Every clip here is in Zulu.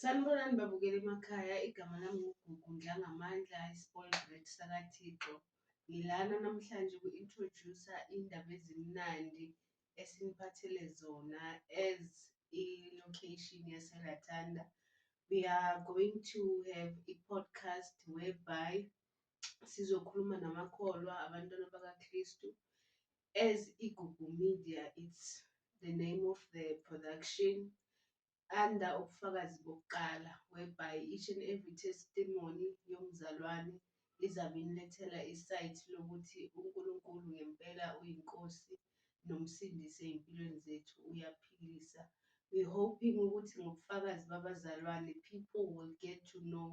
Sanibonani babukela emakhaya, igama lami nguGugu Ndlangamandla, i-spoiled brat sakaThixo. Ngilana namhlanje uku-introduce-a iy'ndaba ezimnandi esiniphathele zona as i-location yaseRatanda. We are going to have i-podcast whereby sizokhuluma namakholwa, abantwana bakaKristu, as Igugu Media it's the name of the production under ubufakazi bokuqala whereby each and every testimony yomzalwane izabe inilethela isayithi lokuthi uNkulunkulu ngempela uyinkosi nomsindisi ezimpilweni zethu uyaphilisa we hoping ukuthi ngobufakazi babazalwane people will get to know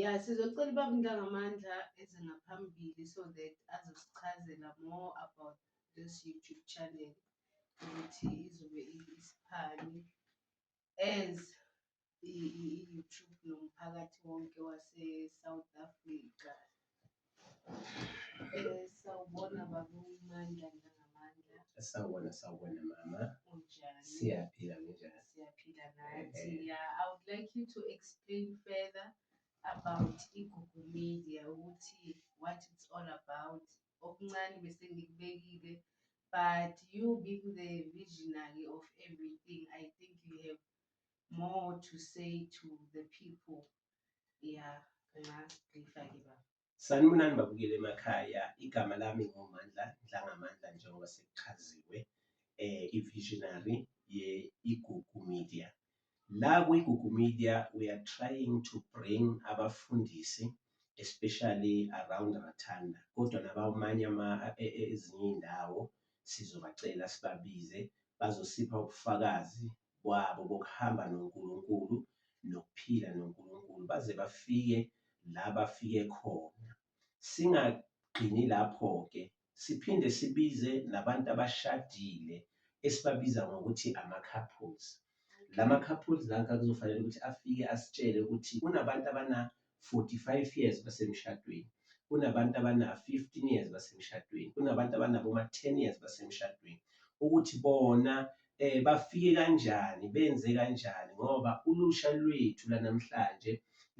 ya sizocela ubaba untangamandla eze ngaphambili so that azosichazela more about this youtube channel ukuthi izobe isiphani as i-youtube nomphakathi wonke wase-south africa Eh, Sawubona baba uMandla nangamandla. Sawubona sawubona mama. Unjani? Siyaphila nginjani? Siyaphila nathi. Eh. Yeah, I would like you to explain further about iGugu Media ukuthi what it's all about. Okuncane bese ngikubekile but you being the visionary of everything, I think you have more to say to the people Sanibonani babukele emakhaya, igama lami ngoMandla Ndlangamandla njengoba sekuchaziwe eh i-visionary ye-Igugu Media. La kwi-Igugu Media we are trying to bring abafundisi especially around Rathanda kodwa nabamanye e, e, ezinye iy'ndawo sizobacela sibabize bazosipha ubufakazi kwabo kokuhamba noNkulunkulu nokuphila noNkulunkulu baze bafike la bafike khona. Singagcini lapho-ke, siphinde sibize nabantu abashadile esibabiza ngokuthi ama-couples. La ma-couples la kuzofanele ukuthi afike asitshele ukuthi kunabantu abana 45 years basemshadweni, kunabantu abana 15 years basemshadweni, kunabantu abanabo ma 10 years basemshadweni ukuthi bona eh bafike kanjani benze kanjani ngoba ulusha lwethu lanamhlanje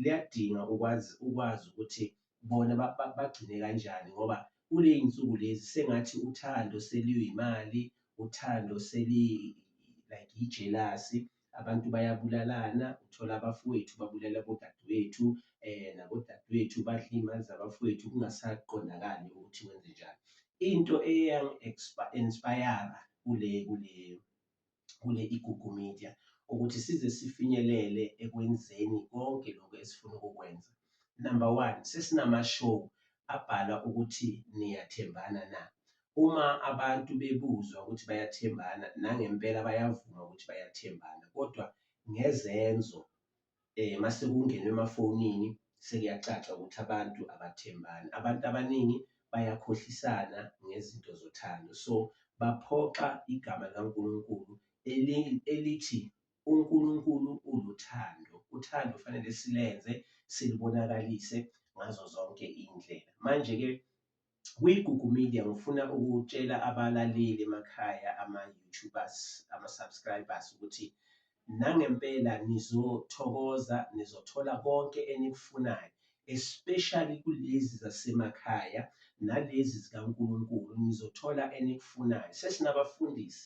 liyadinga ukwazi ukwazi ukuthi bona bagcine kanjani ngoba kuley'nsuku lezi sengathi uthando seluyimali uthando seli like yijelasi abantu bayabulalana uthola abafowethu babulala bodadewethu eh nabodadewethu badla iy'mali zabafowethu kungasaqondakali ukuthi wenze njani into eyangi-inspire kule kule kule igugu media ukuthi size sifinyelele ekwenzeni konke lokho esifuna ukukwenza number one sesinama-show abhala ukuthi niyathembana na uma abantu bebuzwa ukuthi bayathembana nangempela bayavuma ukuthi bayathembana kodwa ngezenzo eh mase kungenwe emafonini sekuyacaca ukuthi abantu abathembani abantu abaningi bayakhohlisana ngezinto zothando so baphoxa igama likaNkulunkulu elithi uNkulunkulu uluthando uthando fanele silenze silibonakalise ngazo zonke indlela manje ke Kuyigugu media ngifuna ukutshela abalaleli emakhaya ama-youtubers ama-subscribers ukuthi nangempela nizothokoza nizothola konke enikufunayo especially kulezi zasemakhaya nalezi zikaNkulunkulu nizothola enikufunayo sesinabafundisi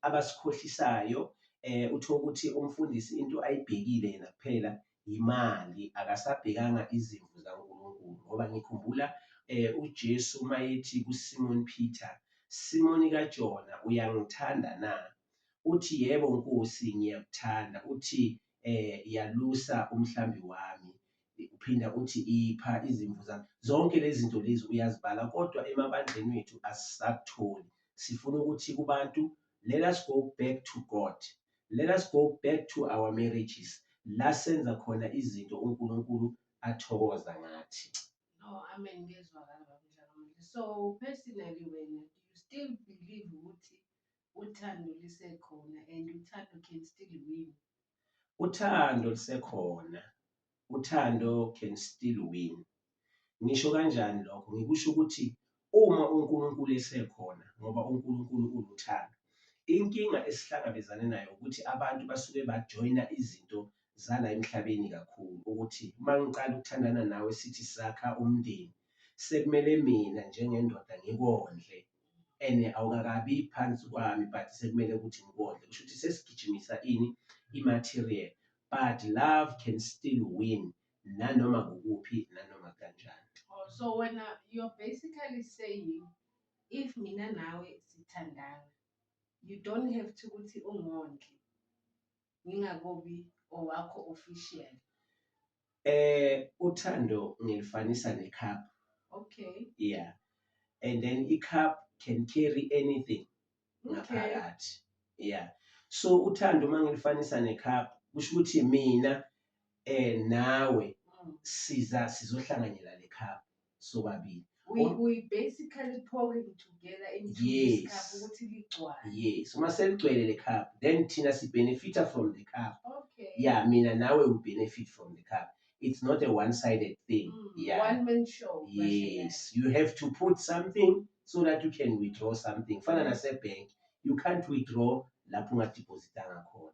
abasikhohlisayo eh uthola ukuthi umfundisi into ayibhekile yena kuphela yimali akasabhekanga izimvu zaNkulunkulu ngoba ngikhumbula eh, uJesu uma ethi kuSimon Peter Simoni kaJona uyangithanda na uthi yebo Nkosi ngiyakuthanda uthi eh yalusa umhlambi wami uphinda uthi ipha izimvu zami zonke lezi zinto lezi uyazibala kodwa emabandleni wethu asisakutholi sifuna ukuthi kubantu let us go back to God Let us go back to our marriages la senza khona izinto uNkulunkulu athokoza ngathi. No, amen ngezwakala baba Dlakamuhle. So personally wena do you still believe ukuthi uthando lisekhona and uthando can still win? Uthando lisekhona Uthando can still win. Ngisho kanjani lokho? Ngikusho ukuthi uma uNkulunkulu esekhona ngoba uNkulunkulu uluthando. Inkinga esihlangabezane nayo ukuthi abantu basuke bajoyina izinto zala emhlabeni kakhulu ukuthi uma ngiqala ukuthandana nawe sithi sakha umndeni sekumele mina njengendoda ngikondle and awukakabi phansi kwami but sekumele ukuthi ngikondle kusho ukuthi sesigijimisa ini i-material but love can still win nanoma kukuphi nanoma kanjani Oh, so when uh, you're basically saying, if mina nawe sithandana, you don't have to ukuthi ungondli ngingakobi owakho official. eh uthando ngilifanisa necup Okay. yeah and then icup can carry anything ngaphakathi yeah so uthando uma ngilifanisa necup kusho ukuthi mina eh nawe mm. siza sizohlanganyela le cup sobabili we, oh. we basically pouring together into yes. this cup ukuthi ligcwale yes uma seligcwele le cup then thina si benefita from the cup okay yeah mina nawe we benefit from the cup it's not a one sided thing mm, yeah one man show yes you have to put something so that you can withdraw something fana nasebhenki you can't withdraw lapho ungadibhozitanga khona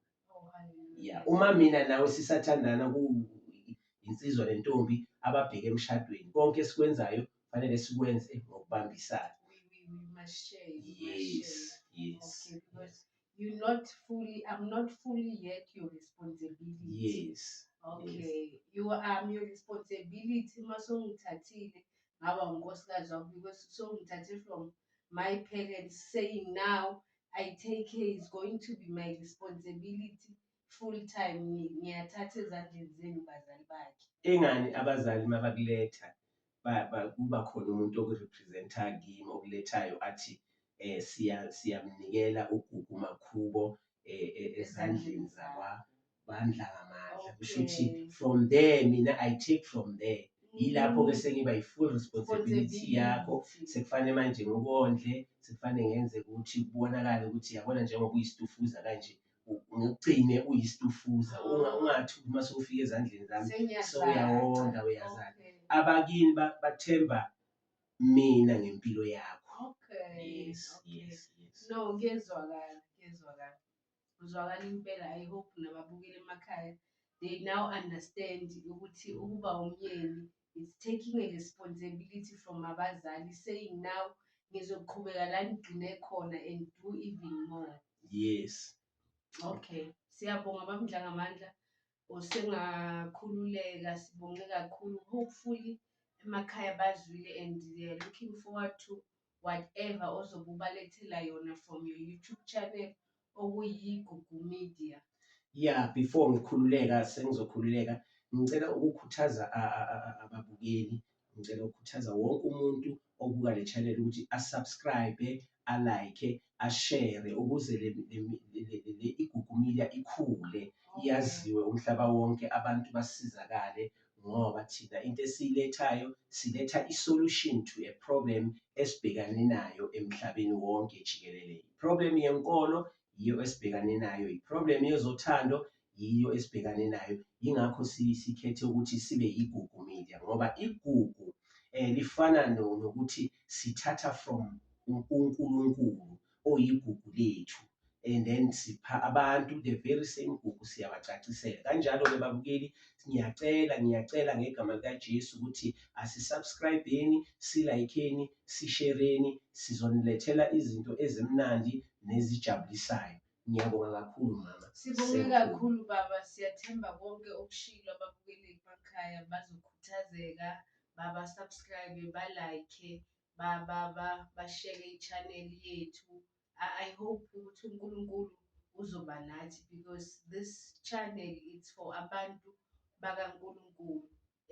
ya uma mina nawe sisathandana kuyinsizwa nentombi ababheke emshadweni konke esikwenzayo fanele sikwenze ngokubambisana yes yes You're not fully, I'm not fully yet your responsibility. Yes. Okay. You are your responsibility uma songithathile ngaba unkosikazi wakho because songithathe from my parents saying now I take care is going to be my responsibility full time ngiyathatha ezandleni zenu bazali bakhe. Ingani abazali mabakuletha ba- ba- kuba khona umuntu okurepresenta kimi okulethayo athi um siya siyamnikela ugugu makhubo um ezandleni zakwa bandla ngamandla kusho ukuthi Okay. from there mina i take from there yilapho ke sengiba yi-full responsibility yakho sekufanele manje ngikondle sekufanele ngenze ukuthi kubonakale ukuthi yabona njengoba uyisitufuza kanje ngikucine uyistufuza ungathi uma sewufika ezandleni zami sewuyawonda uyazana abakini bathemba mina ngempilo yakho yes yes yes no ngiyezwakala ngiyezwakala uzwakala impela i hope nababukeli emakhaya they now understand ukuthi ukuba umyeni is taking a responsibility from abazali saying now ngizoqhubeka la ngigcine khona and do even more yes okay siyabonga bamdla ngamandla osengakhululeka sibonge kakhulu hopefully emakhaya bazwile and they are looking forward to whatever ozobe ubalethela yona from your YouTube channel okuyiGugu Media. Yeah, before ngikhululeka sengizokhululeka ngicela ukukhuthaza ababukeli, ngicela ukukhuthaza wonke umuntu obuka le channel ukuthi asubscribe, alike ashere ukuze le, le, le, le, le, le igugumilia ikhule iyaziwe umhlaba wonke abantu basizakale ngoba thina into esiyilethayo siletha i-solution to a problem esibhekane nayo emhlabeni wonke jikelele i-problem yenkolo yiyo esibhekane nayo i-problem yezothando yiyo esibhekane nayo yingakho sikhethe ukuthi sibe igugu media ngoba igugu um lifana nokuthi sithatha from unkulunkulu oyigugu lethu and then sipha abantu the very same gugu siyabacacisela kanjalo-ke babukeli ngiyacela ngiyacela ngegama likajesu ukuthi asisubscribeni silayikheni sishereni sizonilethela izinto ezimnandi nezijabulisayo Ngiyabonga kakhulu mama. Sibonge kakhulu baba, siyathemba konke okushilo ababukeli emakhaya bazokhuthazeka, baba subscribe, ba like, ba ba ba bashare i-channel yethu. I, I hope ukuthi uNkulunkulu uzoba nathi because this channel it's for abantu bakaNkulunkulu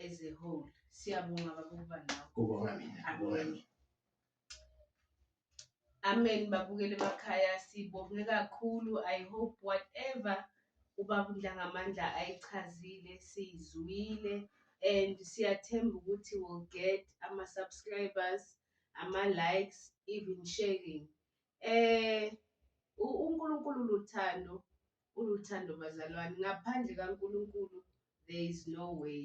as a whole. Siyabonga baba ukuba nawe. Kubonga mina, kubonga mina. Amen babukeli emakhaya sibonge kakhulu I hope whatever ubaba uNdlangamandla ayichazile siyizwile and siyathemba ukuthi will get ama subscribers ama likes even sharing eh uNkulunkulu luthando uluthando bazalwane ngaphandle kaNkulunkulu there is no way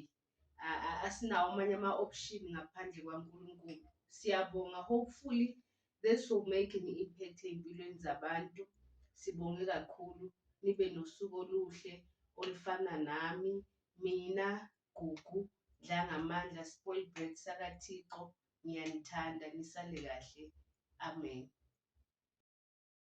asinawo amanye ama-option ngaphandle kwaNkulunkulu. Siyabonga hopefully this will make an impact ey'mpilweni zabantu. Sibonge kakhulu nibe nosuku oluhle olufana nami, mina, Gugu, Dlangamandla, Spoil Bread sakaThixo. Ngiyanithanda nisale kahle. Amen.